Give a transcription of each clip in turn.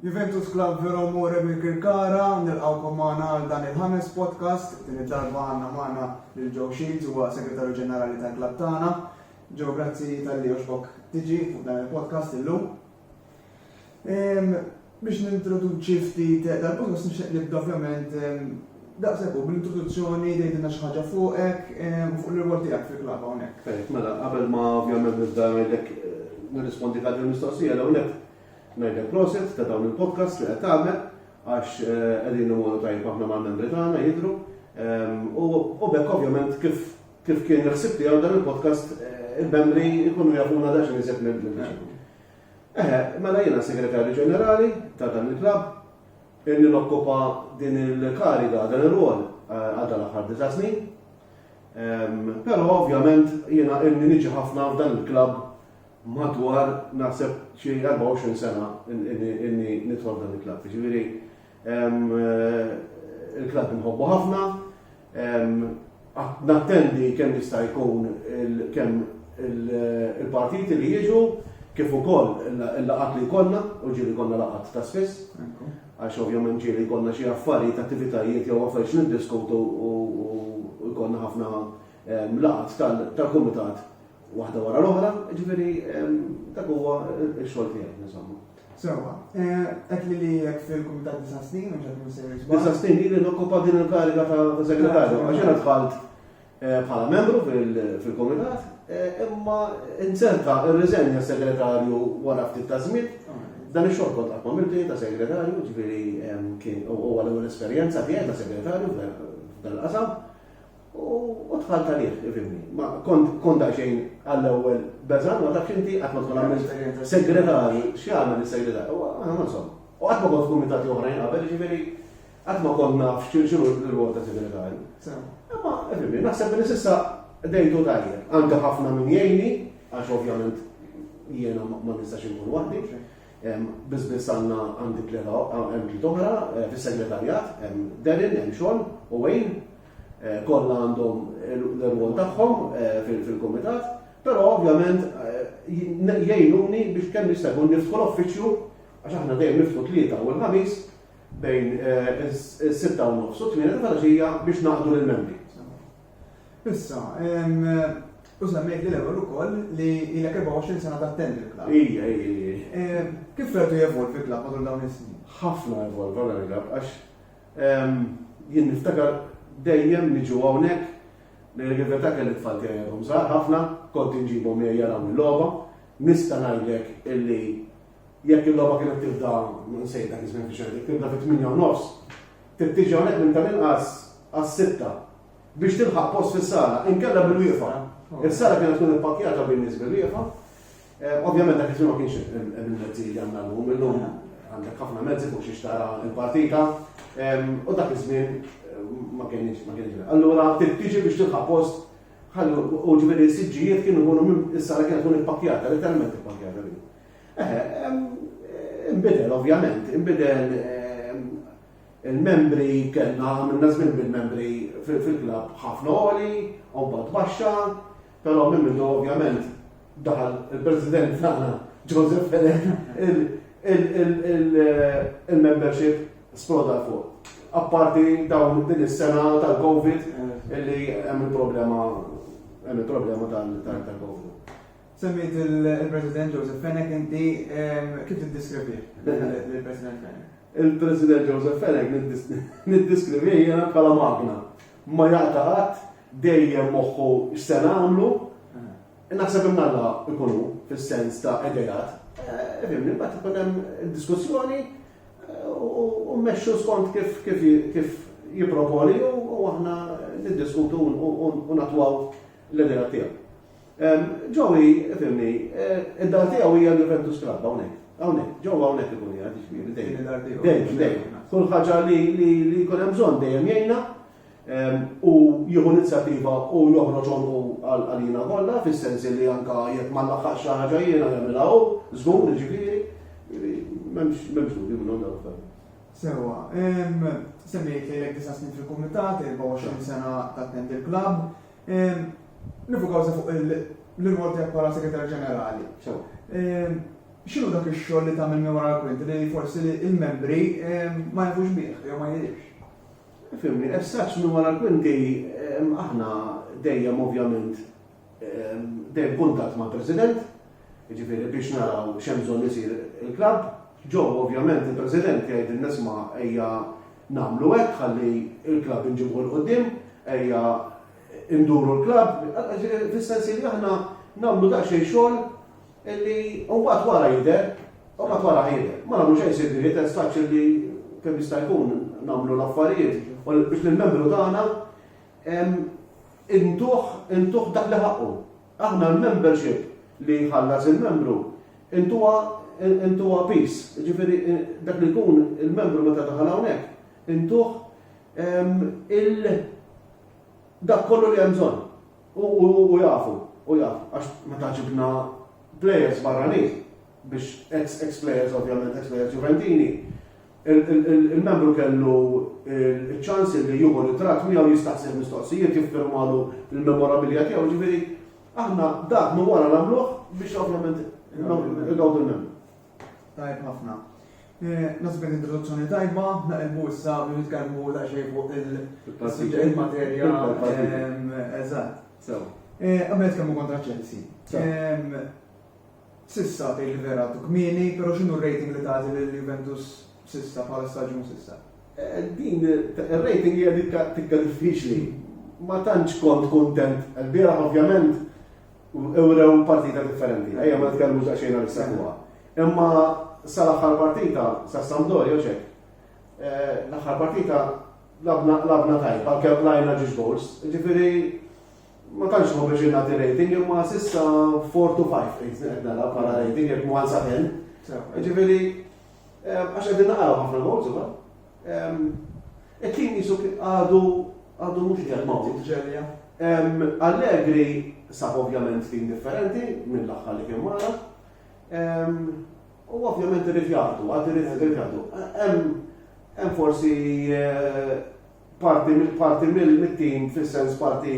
Juventus Club Vero More minn Kirkara, nilqawkom maħna għal dan il-ħames podcast, din id-darba għanna maħna l-Joe Shields huwa segretarju ġenerali tal-klab tagħna. Ġew grazzi tal-li oġbok tiġi fuq dan il-podcast illum. Biex nintroduċi ftit dal-qosor nixtieq nibda ovvjament daqshekk hu bl-introduzzjoni tgħidilna xi ħaġa fuqek u fuq l-irwol tiegħek fil-klabb hawnhekk. Tajjeb, mela qabel ma ovvjament nibda ngħidlek nirrispondi għal din il-mistoqsija l-ewwel nett ngħidlek proset ta' dawn il-podcasts li qed tagħmel għax qegħdin imorru tajjeb ħafna mal-membri tagħna jidhru u b'hekk ovvjament kif Kif kien il-ħsieb tiegħu dan il-podcast il-membri jkunu jafuna daqsxejn iżjed minn Eħe, mela jiena segretarju ġenerali ta' dan il-klabb, illi nokkupa din il-kariga, dan ir-rwol għal dan l-aħħar disa' snin. Però ovvjament jiena illi niġi ħafna f'dan il-klabb madwar naħseb xi 24 sena illi nidħol f'dan il-klabb. Jiġifieri Il-klabb nħobbu ħafna, nattendi kemm jista' jkun kemm il-partiti li jiġu, kif ukoll il-laqat li jkollna, u ġieli jkollna laqat ta' spiss, għax ovvjament ġieli jkollna xi affarijiet, attivitajiet jew affarijiet niddiskutu u jkollna ħafna laqat tal-kumitat waħda wara l-oħra, jiġifieri dak huwa x-xogħol tiegħi, insomma. Sewa, eh, qed li li jek fil-Kumitat Disa' Snin, mhux qed nkun sejjer żball. Disa' Snin li nokkupa din il-kariga ta' segretarju, għax jiena dħalt eh, bħala membru fil-Kumitat, eh, imma inzenta ir-riżenja segretarju wara ftit ta' żmien. Dan ix-xogħol kont qatt m'għamiltu ta' segretarju, ġifieri kien huwa l-ewwel esperjenza tiegħi ta' segretarju f'dan qasam U tħalt għalih, ifimni. Ma kont daqsxejn għall-ewwel beżan, ma tafx inti qatt ma tkun għamilt segretarju, x'jagħmel is-segretarju? Aħna ma nsom. U qatt ma kont kumitati oħrajn qabel, ġifieri qatt ma kont naf x'inhu l-rwol ta' segretarju. Imma ifimni, naħseb li s'issa dejtu tajjeb. Għandi ħafna min jgħinni, għax ovvjament jiena ma nistax inkun waħdi. Biss biss għandna għandi tlieta hemm tliet oħra eh, fis-segretarjat, hemm Derin, hemm Xon u Wayne Kollha għandhom l-irwol tagħhom fil-kumitat, però ovvjament jgħinuni biex kemm jista' jkun niftħu l-uffiċċju għax aħna dejjem niftħu tlieta u l-ħamis bejn is-sitta u nofs u tmiena ta' filgħaxija biex naqdu lill-membri. Issa, U semmejt li l-ewwel ukoll li ilek 24 sena tattendi l-klabb. Ija, ija, ija. Kif rajtu jevolvi l-klabb matul dawn is-snin? Ħafna evolva l-klabb għax Jien niftakar dejjem niġu hawnhekk, ngħidlek il-verità kelli t-tfal tiegħi għadhom żgħar ħafna, kont inġibhom miegħi jaraw il-logħba. Nista' ngħidlek illi jekk il-logħba kienet tibda, nsejt dak iż-żmien fix-xena, jekk tibda fit-tmienja u nofs, trid tiġi hawnhekk minn tal-inqas għas-sitta biex tilħaq post fis-sala, inkella bil-wieqfa. Is-sala kienet tkun ippakkjata bin-nies bil-wieqfa. Ovvjament dak iż-żmien ma kienx hemm il-mezzi li għandna llum, illum għandek ħafna mezzi fuq xiex tara l-partita u dak iż-żmien ma kienx ma kienx. Allura tiġi biex tilħaq post ħallu u ġifieri s-siġġijiet kienu jkunu minn is-sala kienet tkun ippakkjata, letteralment ippakkjata li. Eħe, imbidel ovvjament, imbidel il-membri kellna għamilna żmien bil-membri fil-klabb ħafna oli, u baxxa, Però minn mindu ovvjament daħal il-President tagħna Joseph Fedek il-membership sploda fuq. Apparti dawn din is-sena tal-Covid eh. illi hemm il-problema hemm il-problema tal-Covid. Semmit il-President Joseph Fenech inti kif tiddeskrivi il-President Fenech? Il-President Joseph Fenech niddeskrivi jiena bħala magna. Ma jaqtaqat dejjem moħħu x'se nagħmlu, naħseb imma Alla jkun hu fis-sens ta' ideat, fhimni, mbagħad ikun hemm diskussjoni u mmexxu skont kif jipproponi u aħna niddiskutu u natwaw l-ideat tiegħu. Ġowi, fhimni, id-dar tiegħu hija l-Juventus Club hawnhekk. Hawnhekk, ġewwa hawnhekk ikun qiegħed jiġifieri dejjem. Dejjem, dejjem. Kull ħaġa li jkun hemm bżonn dejjem jgħinna. u jieħu inizjattiva u joħroġ għonqu għalina kollha, fis-sens li anke jekk ma nlaħħaqx xi ħaġa jiena jagħmilha hu, żgur jiġifieri, m'hemmx dubju minnhom dawk f'dan. Sewwa, semmejt lejlek disa' snin fil-kumitat, 24 sena tattendi l-klabb, nifukaw se fuq l-irwol tiegħek bħala segretar ġenerali. X'inhu dak ix-xogħol li tagħmel minn wara l-kwinti li forsi l-membri ma jafux bih jew ma jidhirx? Fimni, as such minn wara l-kwinti aħna dejjem ovvjament dejjem kuntatt mal-President, jiġifieri biex naraw x'hemm bżonn isir il-klabb. Ġo ovvjament il-President jgħidilna isma' ejja nagħmlu hekk ħalli l-klabb inġibuh 'l quddiem, ejja nduru l-klabb, fis-sens li aħna nagħmlu daqsxejn xogħol Illi mbagħad wara jidher, u mbagħad wara ħajidher. Ma nagħmlu xejn sibni li testax illi kemm jista' jkun nagħmlu l-affarijiet u biex l-membru tagħna intuh intuh dak li ħaqqu. Aħna l-membership li jħallas il-membru intuha intuha peace, ġifieri dak li jkun il-membru meta daħal hawnhekk intuh il- Dak kollu li hemm bżonn. U jafu, u jafu, għax meta ġibna plejers barranin biex ex plejers ovvjament, ex plejers Juventini, il-membru kellu ċ-ċans li jieħu ritratt miegħu, jistaqsih mistoqsijiet, jiffirmalu l-memorabilia tiegħu, jiġifieri aħna dak minn wara nagħmluh biex ovvjament igawdu l-membru. Tajb ħafna. Nasib kien introduzzjoni tajba, naqilbu issa biex nitkellmu daqsxejn fuq il-materja. Eżatt. Sew. Qabel nitkellmu kontra Chelsea. Sissa tgħid li vera għaddu kmieni, però x'inhu r-rating li tagħti lil Juventus sissa bħala staġun sissa? Din ir-rating hija dik tikka diffiċli. Ma tantx kont kuntent. Il-bieraħ ovvjament Urew partita differenti, ejja ma nitkellmux daqsxejn għal is-segwa. Imma sal-aħħar partita sa Sampdoria ċek. Eh, l-aħħar partita labna labna tajba, kemm lajna ġiġ goals. Ġifieri ma tantx ma biex nagħti rating imma sissa 4 to 5 qed qed nara bħala rating jekk mwan sa 10. Ġifieri eh, għax qegħdin naqgħu ħafna goals ukoll. It-tim qisu kien għadu għadu mhux qiegħed mawt ġerja. Allegri sab ovvjament tim differenti mill-aħħar li kien mara. U ovvjament irid jagħtu, għad irid jagħtu. Hemm forsi eh, parti mill-parti mill-tim fis-sens parti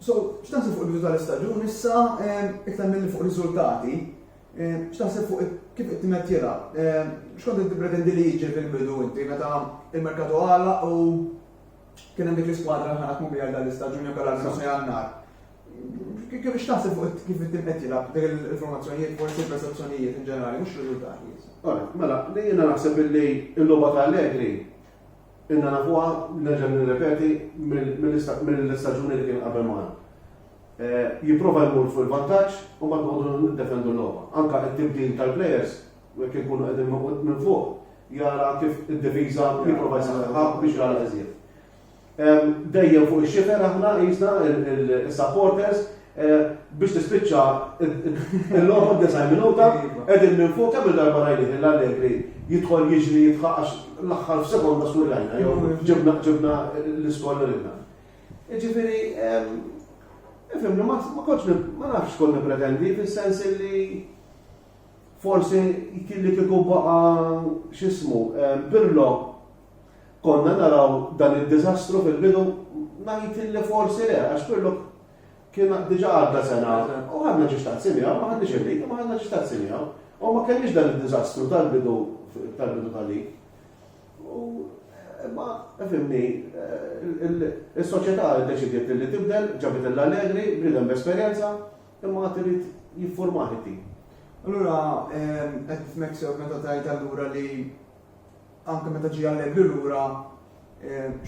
So, x'taħseb fuq il-bidu tal-istaġun issa iktar milli fuq riżultati? X'taħseb fuq kif qed timet tilgħab? X'kont qed tippretendi li jiġi fil-bidu inti meta il-merkatu għalaq u kien hemm dik l-iskwadra ħana tkun biha dan l-istaġun jew kellha l-sena jannar. Kif x'taħseb fuq kif qed timet tilgħab dik il-formazzjonijiet forsi persezzjonijiet in ġenerali mhux riżultati. Mela, jiena naħseb illi l-logħba ta' Allegri Ilna nafuha, nerġa' nirrepeti, mill-istaġuni li kien qabel magħna. Jipprova jmur fuq il-vantaġġ u mbagħad noqogħdu niddefendu l-logħba. Anke t-tibdil tal-plejers, jekk inkunu qegħdin noqgħod minn fuq, jara kif id-difiża jipprova jsaħħaħha biex jagħlaq iżjed. Dejjem fuq ix-xifer aħna qisna, is-supporters, Biex tispiċċa l-logħba d-disgħin minuta, qegħdin minn fuq kemm il-darba rajnih lil Allegri jidħol jiġri jidħaq għax l-aħħar f'sekonda swirrajna jew ġibna l-iskoll ridna. Jiġifieri, ifhimni ma kontx ma nafx kont nippretendi fis-sens li forsi kien li kieku baqa' x'ismu Pirlo konna naraw dan id-diżastru fil-bidu ngħid li forsi le għax Pirlo Kien diġà għadda sena u ħadna xi xtaqt simiegħu, ma ħadniex il-lig, imma ħadna xi xtaqt simiegħu. U ma kellniex dan id-diżastru tal-bidu tal-bidu tal-lig. U imma fimni is-soċjetà ddeċidiet li tibdel, ġabet l-Allegri, bniedem b'esperjenza, imma għad irid jiffurmah it-tim. Allura qed nifhmek sew meta tgħid allura li Anke meta ġie Allegri lura,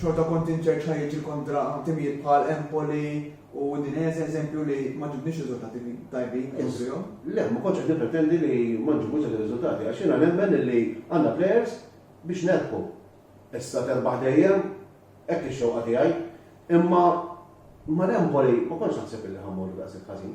xorta kont inċert x'ħa jiġri kontra timijiet bħal Empoli u Udinese, eżempju, li ma ġibniex riżultati tajbin kontrihom. Le, ma kontx qed nippretendi li ma nġibux dak ir-riżultati, għax jiena nemmen li għandna plejers biex nerbħu. Issa terbaħ dejjem, hekk hi x-xewqa tiegħi. Imma mal-Empoli ma kontx naħseb li ħa mmorru daqshekk ħażin.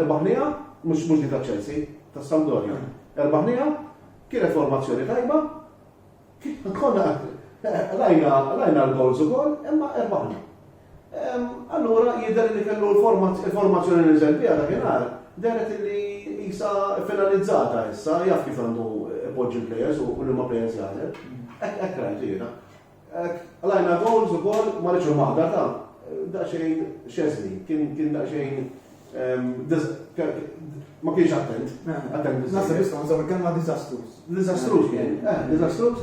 Erbaħnija, mhux mhux din taċ-Chelsea, tas-Sampdoria. Erbaħnija, kienet formazzjoni tajba, konna rajna rajna l-gowls ukoll, imma erbaħna. Allura jidher li kellu l-formazzjoni li niżel biha dakinhar deret li qisha finalizzata issa, jaf kif għandu ipoġġi l-plejers u liema plejers jagħżel. Hekk rajtu jiena. Għalajna goals u gol ma rridx maħda ta' daqsxejn xeżni, kien kien daqsxejn ehm, dis- ke- ma kienx attent, attent Nasa biżżejjed. biss nżaw il-kelma disastrous. Disastrus kien, eh, disastrus.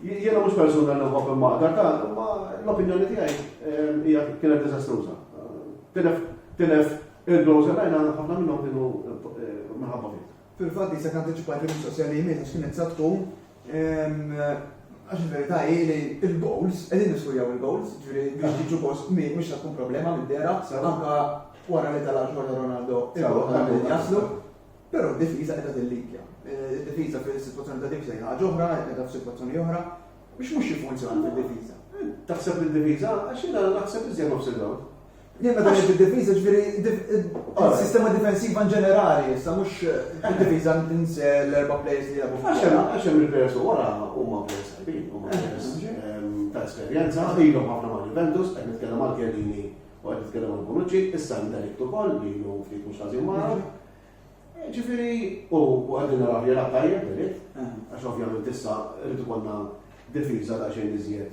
J- Jiena mhux persuna li nħobb il-maħda ta' imma l-opinjoni tiegħi ehm, hija kienet disastruża. Tilef tilef il-goals għalajna ħafna minnhom kienu eh, minħabba fih. Fil-fatt hi se tantiċipa l-mistoqsija li jmiss għax kienet sa tkun għax il-verità hi li l-goals qegħdin niskurjaw il-goals, ġifieri biex jiġu goals kmieni mhux se tkun problema mid-dehra anke wara li tala' xorta Ronaldo il-goals jaslu. Però d-difiża qiegħda tillikja. Id-difiża fis-sitwazzjoni ta' dik se hi ħaġa oħra, qiegħda f'sitwazzjoni oħra biex mhux jiffunzjona fid-difiża. Taħseb li d-difiża għax jiena naħseb iżjed offside hawn. Din meta ngħid id-difiża ġifieri s-sistema difensiva in ġenerali, issa mhux id-difiża ins l-erba' players li jilagħbu. Għax hemm għax hemm il-players u wara huma players tajbin, huma players ta' esperjenza, ilhom ħafna ma' Juventus, qed nitkellem għal Chiellini u qed nitkellem għal Bonucci, issa ndelikt ukoll li jlu ftit mhux ħażin magħhom. Ġifieri u għadin naraw jela tajjeb delikt, għax ovvjament issa rridu konna difiża ta' xejn iżjed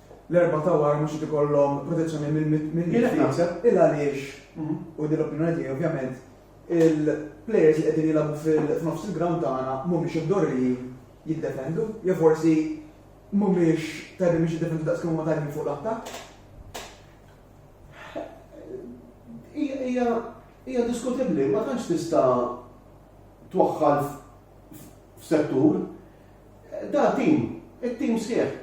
l-erbgħa ta' wara mhux qed ikollhom protezzjoni mill-mitt. Jien hekk naħseb. Il għaliex, u din l-opinjoni tiegħi ovvjament, il-plejers li qegħdin jilagħbu f'nofs il-grawnd tagħna mhumiex imdorrijin jiddefendu, jew forsi mhumiex tajbin biex jiddefendu daqs kemm huma tajbin fuq l-attakk. Hija diskutibbli, ma tantx tista' twaħħal f'settur. Da tim, it-tim sħiħ.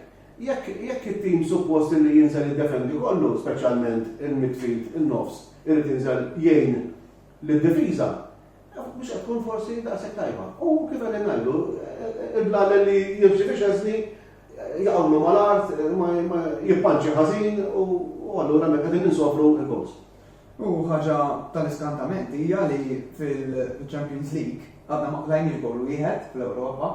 Jekk it-tim suppost illi jinżel jiddefendi kollu, speċjalment il-midfield, in-nofs, irid jinżel jgħin lid-difiża, mhux qed tkun forsi daqshekk tajba. U kif qegħdin ngħidu, il-blalel li jimxi fi xeżni jaqawlu mal-art, jippanċi ħażin u allura hemmhekk qegħdin insofru l-gowls. U ħaġa tal-iskantament hija li fil-Champions League għadna ma qlajniex gowl wieħed fl-Ewropa.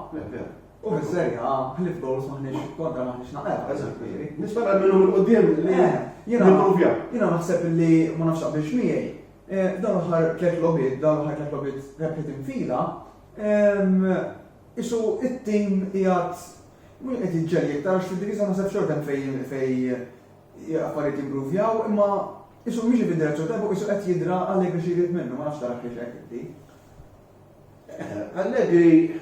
U fis-Serja A ħlif gowls maħniex kontra maħniex naqgħu, eżatt kbiri. Nispera minnu minn qudiem li eh, jimprovja. Jiena naħseb li ma nafx biex miegħi. Eh, dan l-aħħar tliet logħbiet, dan l-aħħar tliet logħbiet rebħet infila, ehm, isu it-tim qiegħed mhux qed jiġġelli iktar għax fid-divisa naħseb xortem fejn fejn Affarijiet jimpruvjaw imma qisu mhix qed id-direzzjoni tajba u qisu qed jidra Allegri xi jrid minnu, ma nafx tarax hekk inti. Allegri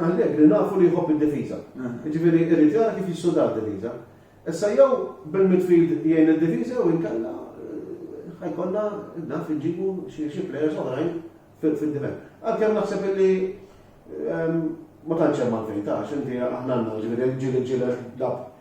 Allegri nafu li jħobb id-difiża. Eh. Jiġifieri irid jara kif jissuda d-difiża. Issa jew bil-midfield jgħin id-difiża jew inkella eh, ħajkollha naf iġibu xi plejers oħrajn fid-difend. Għalkemm naħseb li ehm, ma tantx hemm għalfejn ta' x'inti aħna għandna ġieli ġieli ġieli dab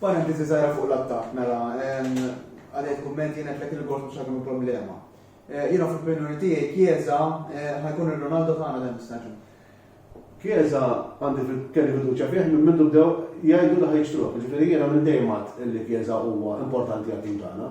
Parentesi żgħira fuq l-attakk, mela, għalhekk kumment jien għedtlek il-gors mhux ħajkunu problema. Jiena fl-opinjoni tiegħi Chiesa ħajkun ir-Ronaldo tagħna dan is-staġun. Chiesa għandi kelli fiduċja fih minn mindu bdew jgħidu li ħajixtruh, jiġifieri jiena minn dejjem għedt li Chiesa huwa importanti għat-tim tagħna.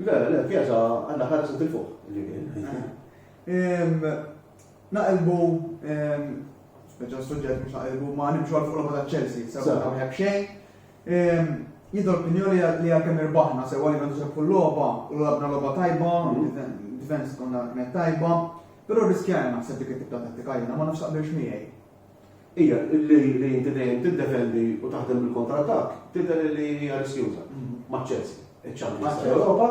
Le, le, pjata għandha ħarsa til fuq. Naqilbu, speċa suġġett mhux naqilbu ma nimxu għal fuq l-għoba ta' Chelsea, sabu ta' mħek xejn. Jiddu l-opinjoni li għakem irbaħna, se għalli għandu xabfu l-loba, u l-għabna loba tajba, difens konna kienet tajba, pero riskjajna naħseb dik it-tibta tattika jena, ma nafsaq biex miegħi. Hija li inti dejjem tiddefendi u taħdem bil-kontratak tidher li hija riskjuża ma' Chelsea. Iċ-champions tal-Ewropa,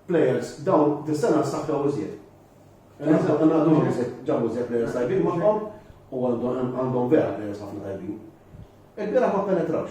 players dawn dis-sena ssaħħew iżjed. Ġabu iżjed players tajbin magħhom u għandhom vera players ħafna tajbin. Il-bieraħ ma ppenetrawx.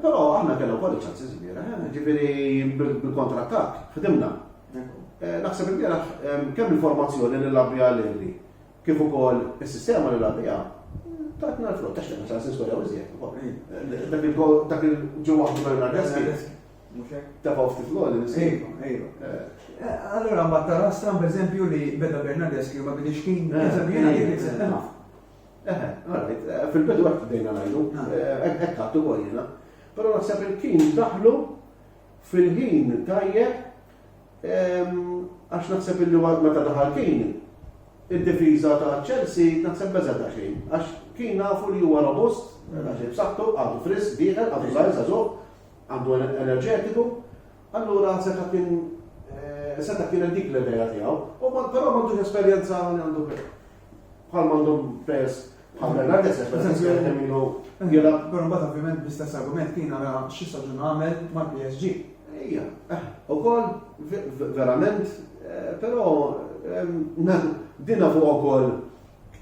Però aħna kellna wkoll iċ-ċansis vera, eh, ġifieri bil-kontrattak, ħdimna. Eh, naħseb il-bieraħ kemm il-formazzjoni li labbi għal-Irri, kif ukoll is-sistema li labbi tatna l-frott, għax kellna ċansis skola u iżjed. Mm. Dak il-ġewwa Bernardeschi. Tafaw ftit l-għoli, nisib. Allora, ma tara stram, per li beda Bernardeschi, ma bidix kien, Fil-bidu għek bdejna najdu, għek għattu għajna. Pero naħseb il-kin daħlu fil-ħin tajjeb, għax naħseb il-li meta daħal kin, il-difiza ta' Chelsea naħseb beżet ta' xejn, għax kin nafu li huwa robust, naħseb saktu, għadu fris, diħel, għadu zaħiza zuq, għandu enerġetiku, allura se ta' kien eh, seta kienet dik l-ideja tiegħu, u però m'għandux esperjenza għandu Bħal m'għandhom pers bħal Bernard Esser, per eżempju, qed nemminu jela. Però mbagħad ovvjament bl-istess argument kien ara xi saġun għamel mal-PSG. Ejja, eh, ukoll verament, eh, però dina fuq ukoll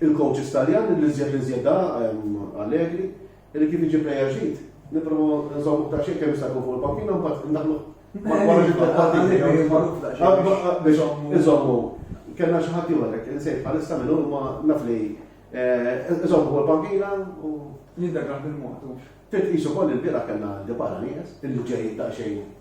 il-coaches Taljan li żjed li żjed Allegri Li kif iġib reaġit, nipprovaw nżommu daqsxejn kemm jista' jkun fuq il-bankina mbagħad indaħlu Iżommu, kellna xi ħadd ieħor hekk, insejt bħalissa minn huma naf li iżommu fuq il-bankina u. Jindagrah bil-mod. Titqisu koll il-bira kellna dibara nies, il-ġejjin daqsxejn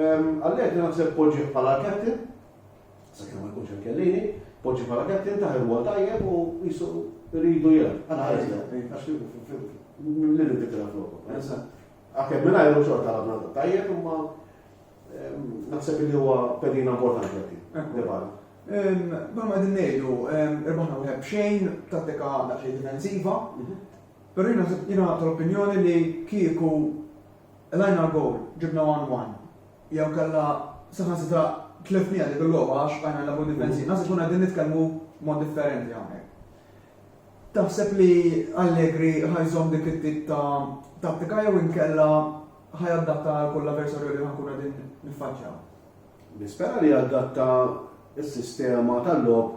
Għalhekk jiena naħseb poġġih bħala captain, sakemm ma jkunx hemm Kellini, poġġih bħala captain taħ il-wol tajjeb u jisu rridu jilgħab. Għana ħares lejn, għax li li dikra flokok. Għakem minna jgħu xorta għabna tajjeb, imma naħseb li huwa pedina importanti għati. Debala. Bħal ma dinnejdu, irbaħna wieħed b'xejn, tattika daqsxejn difensiva, mhm. però jiena tal-opinjoni li kieku Qlajna goal, ġibna one one, jew kellha saħansitra tlifniha dik il-logħba għax bqajna nilagħbu difensiv. Naħseb nkunu qegħdin nitkellmu mod differenti hawnhekk. Taħseb li Allegri ħa jżomm dik it-tip ta' tattika jew inkella ħa jadatta għal kull avversarju li ħa nkunu qegħdin niffaċċjaw? Nispera li jadatta s-sistema tal-logħob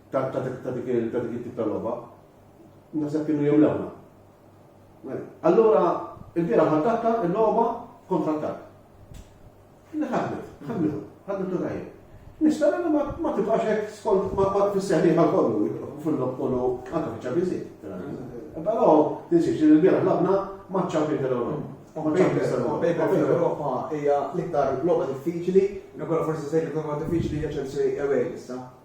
ta' dik ta' dik ta' dik it-tip ta' logħba. Naħseb kienu jemlewna. Allura, il-bira ħaddatta il-logħba kontra attakk. Li ħadmet, ħadmet, ħadmet u tajjeb. Nispera li ma tibqax hekk skont ma tisseħli ma kollu fil-lob kollu anke fiċ-ċabiżi. Però tinsiex li l-bira ħlabna ma' ċampjoni tal-Ewropa. Europa hija l-iktar logħba diffiċli, nkolla forsi se jkun logħba diffiċli hija Chelsea away issa.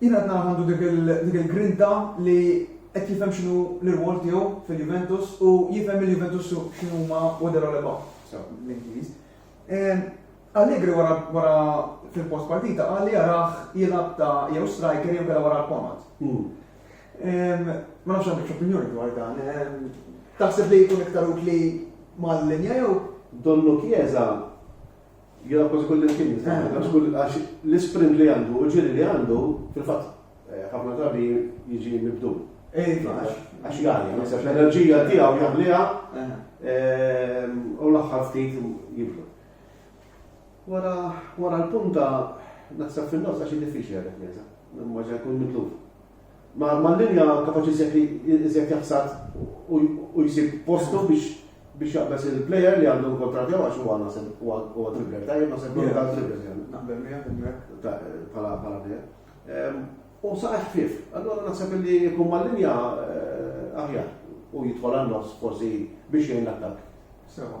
Jien qed nara għandu dik il-grinta li qed jifhem x'inhu l-irwol tiegħu fil-Juventus u jifhem il-Juventus x'inhuma what they're all about, bl-Ingliż. Allegri wara fil-post partita qal li jarah jilgħab ta' jew striker jew kellha wara l-pomat. Hmm. Ma nafx għandek opinjoni dwar dan. Taħseb li jkun iktar utli mal-linja jew? Donnu Chiesa Jara kważi kull imkien jistgħu, għax kull għax l-isprint li għandu, ġiri li għandu, fil-fatt, eh, ħafna drabi jiġi mibdu. Eh, għax jgħalli, naħseb l-enerġija tiegħu jagħmliha eh. ehm, u l-aħħar ftit jibdu. Wara wara l-punta naħseb fin-nofs għax diffiċli għalek nisa, ma ġa jkun mitluf. Ma' linja kapaċi iżjed jaħsad u jsib postu biex jaqbeż il-player li għandu l-kuntratt tiegħu għax huwa naħseb huwa dribbler tajjeb naħseb li huwa dribbler tajjeb. Naqbel miegħek hemmhekk bħala player. U saqaj ħfief. Allura naħseb li jkun ma' linja aħjar u jidħol għan-nofs forsi biex jgħin l-attakk. Sewwa.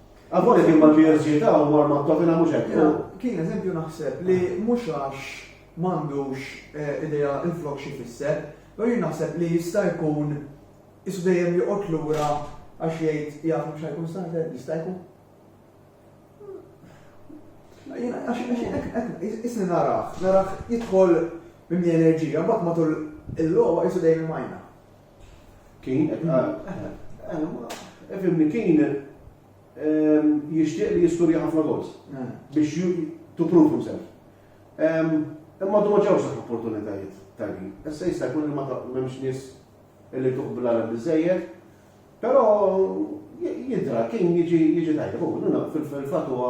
Għavoli kien ma' l-PSGita u mar ma' Tottenham mhux hekk. Kien eżempju naħseb li mhux għax m'għandux eh, idea il-flok xi fisser, u jien naħseb li jista' jkun isu dejjem joqgħod lura għax jgħid jaf mhux ħajkun starter, jista' jkun. Isni narax, narax jidħol minn enerġija, bat matul il-logħba jisu dejjem majna. Kien, fimni, kien jixtieq li jiskurja ħafna gols biex to prove himself. Imma du ma ġewx dak opportunitajiet tajbin. Issa jista' jkun li ma m'hemmx nies li tuqbla l biżejjed, però jidra kien jiġi tajjeb. Fil-fatt huwa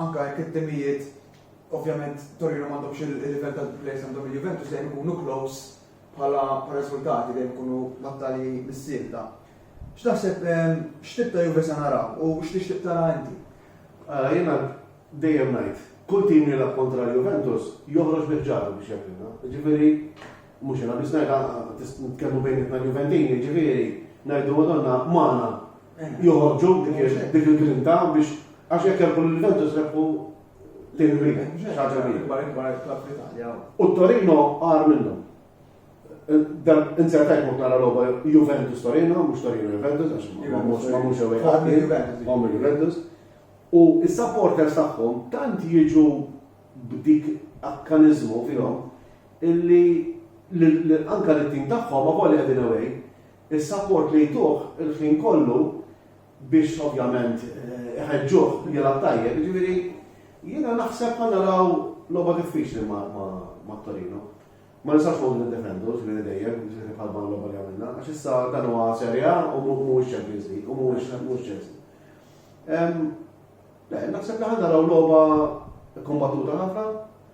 Anke jekk it-timijiet ovvjament Torino m'għandhomx il-livell tal-players li għandhom il-Juventus dejjem ikunu close bħala riżultati, dejjem ikunu battalji mis-sielta. X'taħseb x'tip ta' Juve se naraw u x'tixtieq tara inti? Ara, jiena dejjem ngħid, kull tim li jilgħab kontra l-Juventus joħroġ bi ħġarhu biex jagħtina. Jiġifieri mhux jiena biss ngħidha, nitkellmu bejnietna l-Juventini, jiġifieri ngħidu Madonna magħna joħorġu dik il-grinta biex għax jekk jgħalbu lil Juventus rebħu lejn il-Milan. Xaġa kbira. U Torino għar minnu. Dan inzertajt mot nara logħba Juventus Torino, mhux Torino Juventus, għax ma mhux ma mhux ewwel ħadd Juventus. U s-supporters tagħhom tant jiġu b'dik akkaniżmu fihom illi anka l-tim tagħhom ma volja din away Is-sapport li jtuh il-ħin kollu biex ovvjament iħeġġuh jilgħab tajjeb, jiġifieri jiena naħseb ħa naraw logħba diffiċli ma' Torino. Ma nistgħux noqogħdu niddefendu ġifieri dejjem, ġifieri bħal ma' l-logħba li għamilna, għax issa dan huwa Serie A u mhuwiex Champions League u mhuwiex mhux Chelsea. Le, naħseb li ħa naraw logħba kkombattuta ħafna,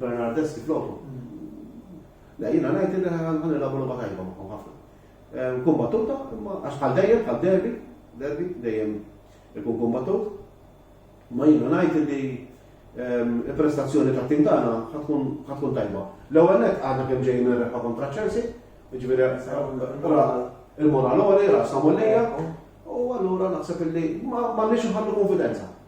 Bernardeschi floku. Le, jiena ngħid li ħan nilagħbu logħba tajba magħhom ħafna. Ehm, kumbattuta, imma għax bħal dejjem, bħal derbi, derbi, dejjem ikun kumbattut. Ma jiena ngħid li ehm, il-prestazzjoni ta' tim tagħna ħatkun tajba. L-ewwel net għadna kemm ġejjin ir-rebħa kontra Chelsea, jiġifieri il-moralori, rasa mollija, u allura naħseb illi ma nix nħallu konfidenza.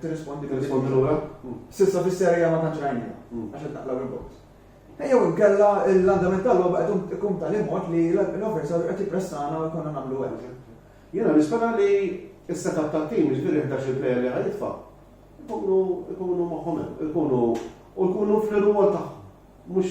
Tirrispondi Tirrispondi lura? Sissa fis-serja ma tantx rajnija, għax qed naqlaw il-box. Ejjew inkella l-andament tal-logħba qed ikun tal-imod li l-officer qed jippressana u jkollna nagħmlu hekk. Jiena nispera li s-setup tat-tim, jiġifieri 11 il-plejer li ħajitfa', ikunu moħħhom hemm, ikunu u jkunu fl-irwol tagħhom, mhux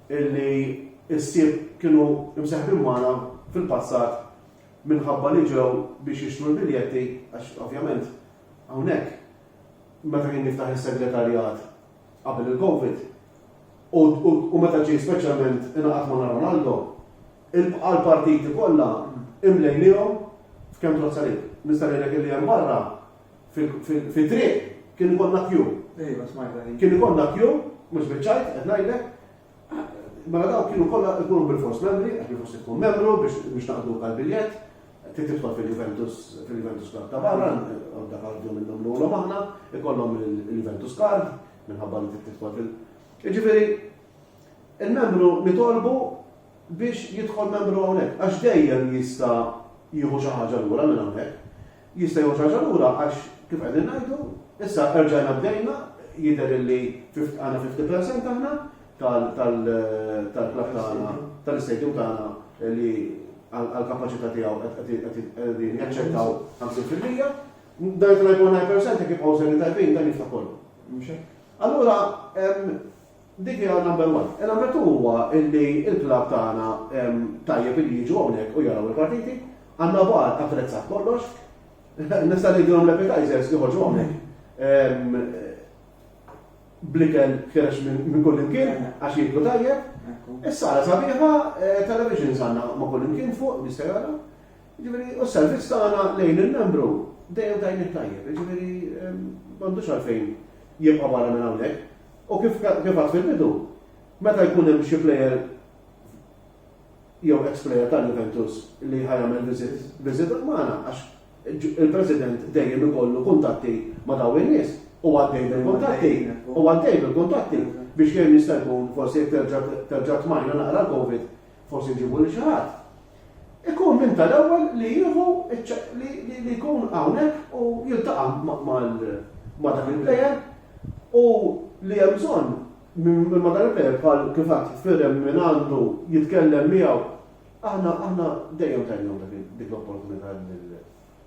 illi ħsieb kienu mseħbin magħna fil-passat minħabba li ġew biex jixtru l-biljetti għax ovvjament hawnhekk meta kien jiftaħ is-segretarjat qabel il-Covid u meta ġie speċjalment ingħaqad ma' Ronaldo, għall-partiti kollha imlejniehom f'kemm trozza lejk. Nista' ngħidlek illi hemm barra Fit-triq kien ikollna kju. Ejwa, smajtha din. Kien ikollna kju, mhux biċ-ċajt qed ngħidlek, mela dawk kienu kollha ikunu bilfors membri, għax bilfors tkun membru biex naqdulka l-biljett, trid tidħol fil-Juventus fil-Juventus Club ta' barra, għodda kardu minnhom lulhom aħna, ikollhom il-Juventus Card, minħabba li trid tidħol fil- Jiġifieri, il-membru nitolbu biex jidħol membru hawnhekk, għax dejjem jista' jieħu xi ħaġa lura minn hawnhekk. Jista' jgħodd raġa' lura għax kif qegħdin ngħidu, issa erġajna bdejna, jidher illi għandna fifty percent aħna tal-klabb tagħna, tal-istadium tagħna li għall-kapaċità tiegħu qegħdin jaċċettaw ħamsin fil-mija. Dan it-tnajn point nine percent jekk jibqgħu serji tajbin dan jiftaħ kollu. Mhux hekk? Allura, Dik hija number one. Number two huwa illi l-club tagħna tajjeb illi jiġu hawnhekk u jaraw il-partiti. Għandna bar attrezzat kollox. Nista' ngħidilhom l-appetizers joħorġu hawnhekk bl-ikel fkerex minn kull imkien għax jieklu tajjeb. Is-sala sabiħa, eh, television sanna ma' kull imkien fuq, jista' jara. Ġifieri, u s-servizz tagħna lejn il-membru dejjem tajjeb tajjeb. Ġifieri, m'għandux għalfejn jibqa' barra minn hawnhekk. U kif għedt fil-bidu, meta jkun hemm xi plejer jew ex-plejer ta' Juventus li ħa jagħmel viżita magħna għax il-President dejjem ikollu kuntatti ma' dawn in-nies u għaddej bil-kuntatti u għaddej bil-kuntatti biex kemm jista' jkun forsi jekk terġa' tmajna naqra l-Covid forsi nġibu lil xi ħadd, ikun minn tal-ewwel li jieħu li jkun hawnhekk u jiltaqa' ma' dak il-plejer u li hemm bżonn minn ma' dan il-plejer bħal kif għad firem minn għandu jitkellem miegħu. Aħna dejjem tajnihom dik l-opportunità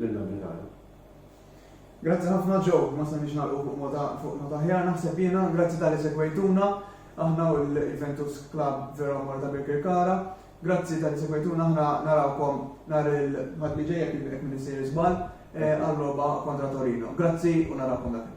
lill-Amerikani. Grazzi ħafna Joe, ma stajniex nagħlqu fuq mota fuq nota aħjar naħseb jiena, grazzi talli segwejtuna aħna u l-Juventus Club Vero Amore ta' Birkirkara. Grazzi talli segwejtuna aħna narawkom nhar il-Ħadd li ġej jekk jekk minn isir żball eh, għal logħba kontra Torino. Grazzi u narawkom dakinhar.